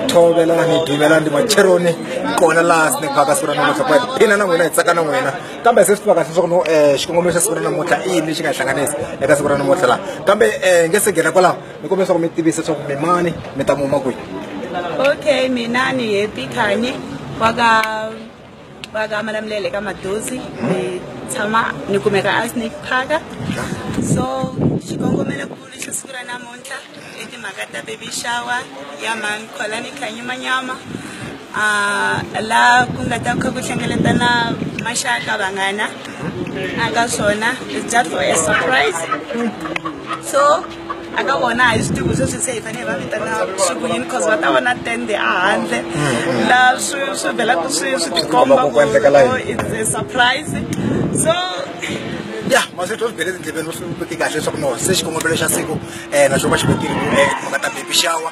thovelela ni duvelela ndi macheroni kona laha snake park siku ra namuntlha ku hi phina na n'wina hi tsaka na n'wina kambe se swi tivaka leswaku no um xikongomelo xa siku ra namuntlha i yini lexi nga hi hlanganisa eka siku ra namuntlha laha kambe um nge se nghena kwalaho ni kombela leswaku mi tivisa leswaku mi mani mi ta muma kwihi okay mina ni happy khanye wa ka va ka malamulele ka madozi ni tshama ni kumeka a snake parka so xikongomelokulu xa siku ra namuntlha i timhaka ta baby shower ya mhani kholani khanyimanyama um la ku nga ta kha ku hlengeletana maxaka vanghana a ka swona is just for a surprise so aka vona a hi swi tivi sweswi se hi fanele va vitana vusiku yini because va ta vona tende ehandle laha swi swi velaku swi swi tikomba ku it's a surprise so ya maswethu swi bele tindleveni swi veke kahle leswaku no se xikongomelo xa siku um na xo va xi vekile um munhu a ta baby shower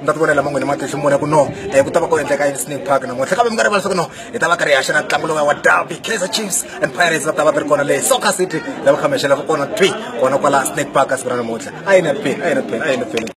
mi ta ti vonela man'wini matihlo mune ku no um ku ta va ku endleka yini snake park namuntlha kambe mi nga rivali swa ku no hi ta va karhi hi haxa na ntlangu lowa wa derby kaizer chiefs and pirates va ta va ti ri kona leyi soccer city lava khamexelaka kona twi kona kwala snake park a siku ra namuntlha a yi na peni a yi na peni a yi na peni